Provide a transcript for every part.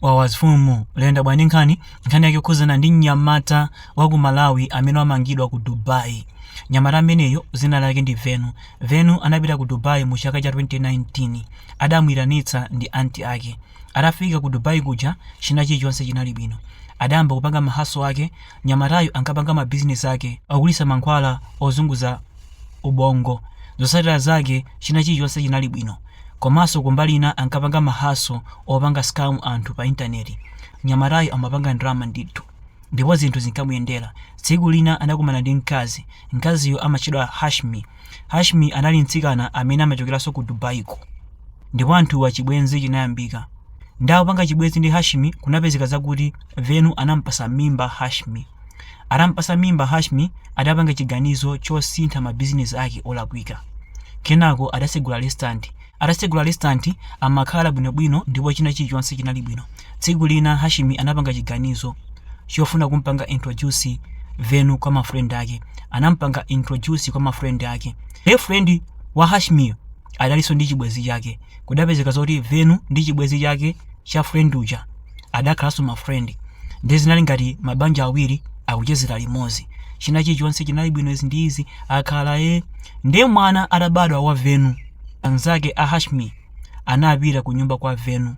Wawa zfumu layenda bwa ndi nkhani? Nkhani yake yokhuzana ndi mnyamata wa ku Malawi amene wamangidwa ku Dubai. Mnyamata ameneyu dzina lake ndi Venu. Venu anapita ku Dubai mu chaka cha 2019. Adamuitanitsa ndi aunt ake. Atafika ku Dubai kuja china chilichonse chinali bwino. Adayamba kupanga ma hustle ake. Mnyamatayu ankapanga ma business ake ogulitsa mankhwala ozunguza ubongo. Zotsatira zake china chilichonse chinali bwino. Komanso kumbali ina ankapanga ma hustle opanga scam anthu pa internet. Mnyamatayu amapanga ndalama ndithu. Ndipo zinthu zinkamuyendera. Tsiku lina anakumana ndi mkazi. Mkaziyu amatchedwa Hashmi. Hashmi anali mtsikana amene amachokeranso ku Dubai ko. Ndipo anthuwa chibwenzi chinayambika. Nde akupanga chibwenzi ndi Hashmi kunapezeka zakuti Venu anamupatsa mimba Hashmi. Atampatsa mimba Hashmi adapanga chiganizo chosintha ma business ake olakwika. Kenako adatsegula restaurant. Atatsegula restaurant amakhala bwino bwino ndipo china chilichonse chinali bwino. Tsiku lina Hashmi anapanga chiganizo chofuna kumpanga introduce Venu kwa ma friend ake. Anampanga introduce kwa ma friend ake. Ndiye friend wa Hashmiyo adalinso ndi chibwenzi chake. Kudapezeka zoti Venu ndi chibwenzi chake cha friend uja. adakhalanso ma friend ndiye zinali ngati mabanja awiri akuchezera limodzi china chilichonse chinali bwino izi ndi izi akhala ndiye mwana atabadwa wa venu anzake a hashmi anapita ku nyumba kwa venu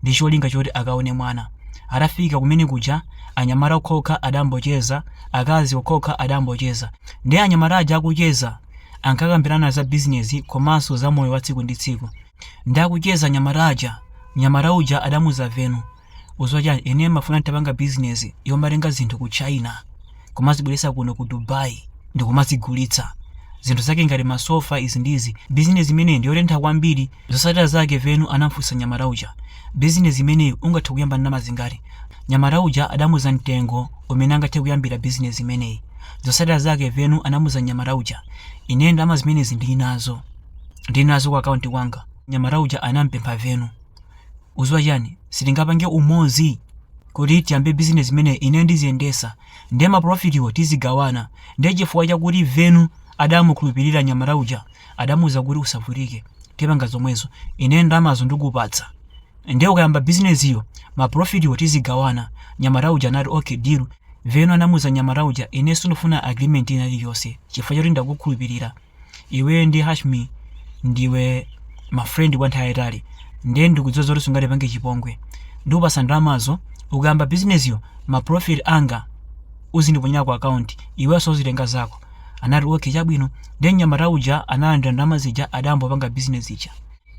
ndi cholinga choti akaone mwana atafika kumene kuja anyamata okhokha adambocheza akazi okhokha adambocheza ndiye anyamata aja akucheza ankakambirana za bizinesi komanso za moyo wa tsiku ndi tsiku ndi akucheza anyamata aja Mnyamata uja adamuuza Venu, udziwa chani ineyo ndimafuna nditapanga business yomatenga zinthu ku China kumazibweretsa kuno ku Dubai ndikumazigulitsa. Zinthu zake ngati ma sofa izi ndi izi. Business imeneyi ndiyotentha kwambiri. Zosatira zake Venu anamfunsa mnyamata uja, business imeneyi ungathe kuyamba ndalama zingati? Mnyamata uja adamuuza mtengo umene angathe kuyambira business imeneyi. Zosatira zake Venu anamuuza mnyamata uja, ineyo ndalama zimenezi ndilinazo. Ndilinazo ku account kwanga. mnyamata uja anampempha venu udziwa chani sitingapange umodzi kuti tiyambe business imene ine ndiziyendesa nde ma profit wo tizigawana nde chifukwa chakuti venu adamukhulupirira mnyamata uja adamuuza kuti usavutike tipanga zomwezo ine ndalamazo ndikupatsa nde ukayamba business yo ma profit wo tizigawana mnyamata uja anati okay deal venu anamuuza mnyamata uja ine sindifuna agreement ina iliyonse chifukwa choti ndakukhulupirira iweyo ndi hashmi ndiwe ma friend kwa nthawi yayitali nde ndikudziwa zoti sungatipange chipongwe ndikupatsa ndalamazo ukayamba bizinesiyo ma profit anga uzindiponyera ku account iwenso uzitenga zako anati okay chabwino nde mnyamata uja analandira ndalama zija adayamba kupanga bizinesi ija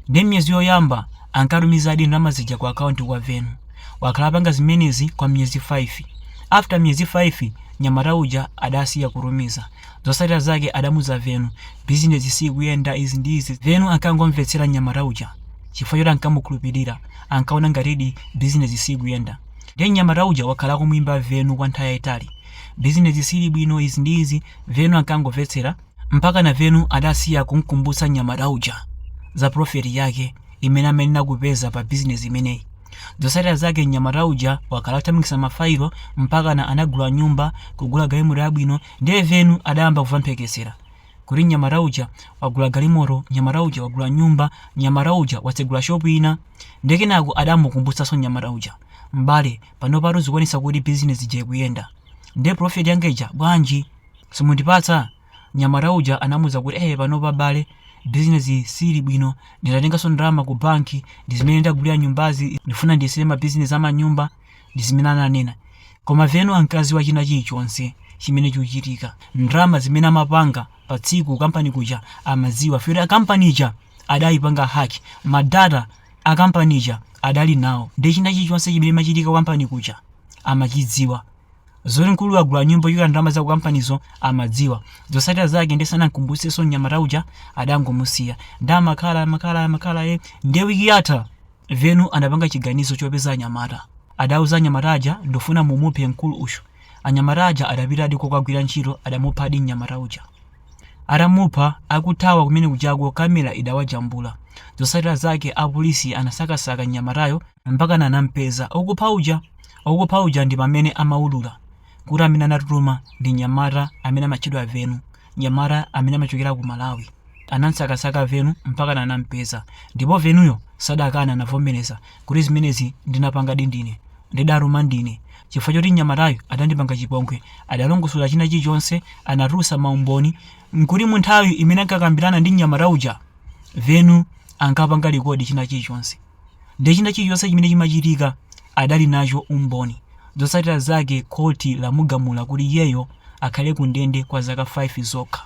Ndiye miyezi yoyamba ankatumizadi ndalama zija ku akaunti kwa Venu. Wakhala apanga zimenezi kwa miyezi 5. After miyezi 5, mnyamata uja adasiya kutumiza. Zotsatira zake adamuuza Venu, bizinezi siikuyenda izi ndi izi. Venu ankangomvetsera mnyamata uja chifukwa choti ankamukhulupirira, ankaona ngatidi bizinezi siikuyenda. Ndiye mnyamata uja wakhala akumuimba Venu kwa nthawi yaitali. Bizinezi siili bwino izi ndi izi, Veno ankangomvetsera. Mpakana Venu adasiya kumkumbutsa mnyamata uja za profit yake imene amayenera kupeza pa business imeneyi. Zotsatira zake mnyamata uja wakhala akuthamangitsa ma file mpakana anagula nyumba, kugula galimoto yabwino ndiye Venu adayamba kumva mphekesera kuti mnyamata uja wagula galimoto, mnyamata uja wagula nyumba, mnyamata uja watsegula shop ina. Ndiye kenako adamukumbutsanso mnyamata uja, m'bale panopatu zikuonetsa kuti business ija ikuyenda. Ndiye profit yanga ija bwanji? Simundipatsa? Mnyamata uja anamuuza kuti, Eee panopa bale bizinesi siili bwino. Ndinatenganso ndalama ku banki, ndi zimene ndagulira nyumbazi. Ndikufuna ndiyesere mabizinesi a manyumba. Ndi zimene ananena. Koma Venu ankadziwa china chilichonse chimene chikuchitika. Ndalama zimene amapanga pa tsiku ku kampani kuja amadziwa chifukwa choti kampani ija adaipanga hack. Ma data a kampani ija adali nawo. Ndiye china chilichonse chimene chimachitika ku kampani kuja amachidziwa. Zoti mkuluyu wagula nyumba yochokera ndalama za kukampanizo amadziwa. Zotsatira zake ndiye sanam'kumbutsenso mnyamata uja, adangomusiya. Ndiye amakhala, amakhala, amakhala ee. Ndiye wiki yatha, Venu anapanga chiganizo chopeza anyamata. Adauza anyamata aja, Ndikufuna mumuphe mkulu uyu. Anyamata aja adapitadi kokagwira ntchito, adamuphadi mnyamata uja. Atamupha, akuthawa kumene kujako, kamera idawajambula. Zotsatira zake apolisi anasakasaka mnyamatayo mpakana anam'peza, okupha uja. Okupha uja ndi pamene amaulula kuti amene anatutuma ndi mnyamata amene amatchedwa Venu, mnyamata amene amachokera ku Malawi. Anamsakasaka Venu mpakana anampeza ndipo Venuyo sadakane anavomereza kuti zimenezi ndinapangadi ndine, ndidatuma ndine. Chifukwa choti mnyamatayu adandipanga chipongwe, adalongosola china chilichonse, anatulutsa maumboni kuti munthawi imene ankakambirana ndi mnyamata uja, Venu ankapanga likodi china chilichonse. Ndiye china chilichonse chimene chimachitika adali nacho umboni. Zotsatira zake khoti lamugamula kuti iyeyo akhale kundende kwa zaka 5 zokha.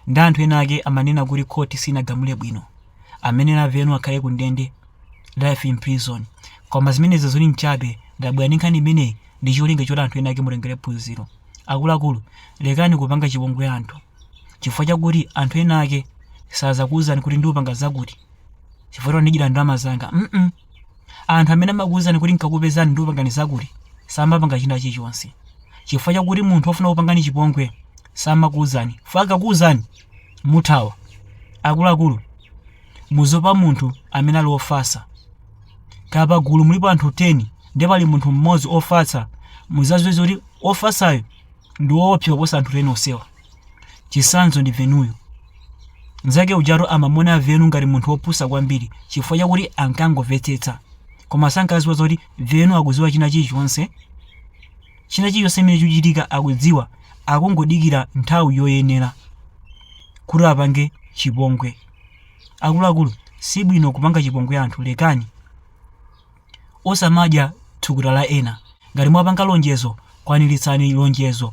Nde anthu ena ake amanena kuti khoti sinagamule bwino. Amanena Venu akhale kundende life in prison. Koma zimenezi zili nchabe ndabwera ndi nkhani imeneyi ndi cholinga choti anthu ena ake mutengere phunziro. Akuluakulu lekani kupanga chipongwe anthu chifukwa chakuti anthu ena ake sazakuuzani kuti ndikupanga zakuti. chifukwa ndidyira ndalama zanga mm -mm. anthu amene amakuwuzani kuti nkakupezani ndikupangani zakuti samapanga china chilichonse chifukwa chakuti munthu ofuna kupangani chipongwe samakuwuzani akakuwuzani muthawa akuluakulu muziopa munthu amene ali ofatsa kaya pagulu mulipo anthu 10 ndi pali munthu mmodzi ofatsa muzadziwe zoti ofatsayo ndi woopsa kuposa anthu 10 onsewa Chitsanzo ndi Venuyo. Mnzake ujatu amamuona Venu ngati munthu wopusa kwambiri chifukwa chakuti ankangomvetsetsa. Koma sankadziwa zoti Venu akudziwa china chilichonse. China chilichonse chimene chikuchitika akudziwa, akungodikira nthawi yoyenera kuti apange chipongwe. Akuluakulu, si bwino kupanga chipongwe anthu, lekani. Osamadya thukuta la ena. Ngati mwapanga lonjezo, kwaniritsani lonjezo.